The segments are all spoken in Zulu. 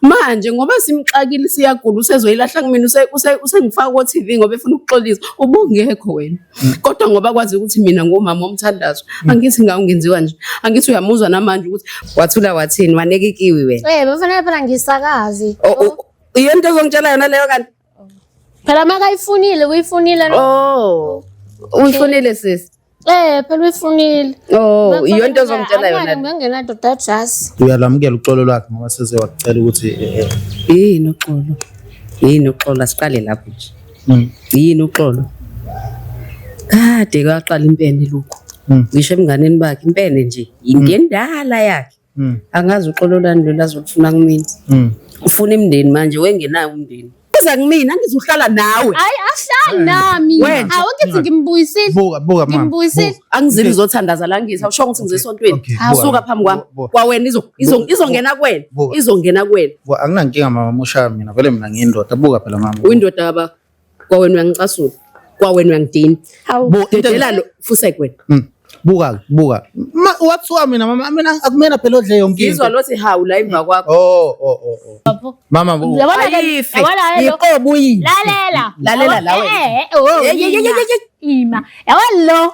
manje ngoba simxakile siyagula usezoyilahla kumina usengifaka ko-TV ngoba efuna ukuxolisa ubungekho wena mm. kodwa ngoba kwazi ukuthi mina ngumama omthandazo mm. angithi ngawungenziwa nje angithi uyamuzwa namanje ukuthi wathula wathini waneka ikiwi wena eh bafana phela ngisakazi yento ezongitshela yona leyo kanti Phela makayifunile uyifunile no. Oh. Uyifunile sis. Eh phela uyifunile. Oh, iyo into ozomtshela yona. Ngingena doda just. Uyalamukela uxolo lwakhe ngoba seze wakucela ukuthi eh, eh. yini uxolo. Yini uxolo asiqale lapho nje. Mm. Yini uxolo. Kade kwaqala impene lokho. Mm. Ngisho emnganeni bakhe impene nje. Mm. Ingendala yakhe. Mm. angazi uxolo lani lolu azolufuna kumina Mm. ufuna imndeni manje wengenayo umndeni uza kumina angizuhlala nawe hayi ahlali nami Wena. hawu ngithi ngimbuyisile Buka, buka mama. Ngimbuyisile. buka. angizibi zothandaza la ngithi awusho ukuthi ngize esontweni Okay, buka. suka phambi kwami Bu- bu- kwawena izo- izo- bu- izongena kuwena Buka. izongena kuwena Buka, anginankinga mama mushaya mina vele mina ngiyindoda buka phela mama uyindoda yaba kwawena uyangicasula kwawena uyangidina Hawu. Bo, into- dedela lo fusek wena Mm. buka buka Ma- wathiwa mina mama mina akumina phela odle yonke ngizwa into lothi hawu la emva kwakho oh oh oh oh. Bafo. mama bu- Yabona ke ayife yabona ke lo. yiqobo uyini Lalela. Lalela la wena. Eh, eh, oh, Ye- ye- ye- ye- ima. ye- ye- Ima. Yabona lo.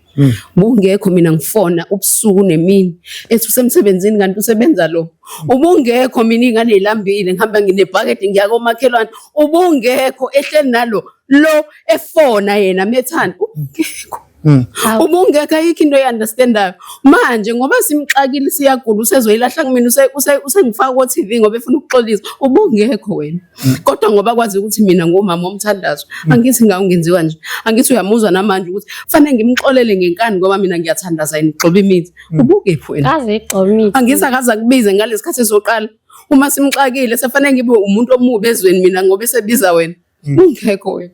Mm. Ubungekho mina ngifona ubusuku nemini ethi usemsebenzini kanti usebenza lo. Ubungekho mina ingane ilambile ngihamba nginebhakede ngiya komakhelwane. Ubungekho ehleli nalo lo efona yena methanda ubungekho. Mm. Ubungekho ayikho into eyanderstandayo manje ngoba simxakile siyagula usezoyilahla kumina usengifaka ko TV ngoba efuna ukuxolisa ubungekho wena. kodwa ngoba kwazi ukuthi mina ngomama omthandazo hmm. angithi ngawu ngenziwa nje angithi uyamuzwa namanje ukuthi fanele ngimxolele ngenkani ngoba mina ngiyathandaza yini gxoba imithi hmm. ubukephi wena kaze igxoba imithi angithi akaza kubize ngalesikhathi soqala uma simxakile sefanele ngibe umuntu omubi ezweni mina ngoba esebiza wena hmm. ungekho wena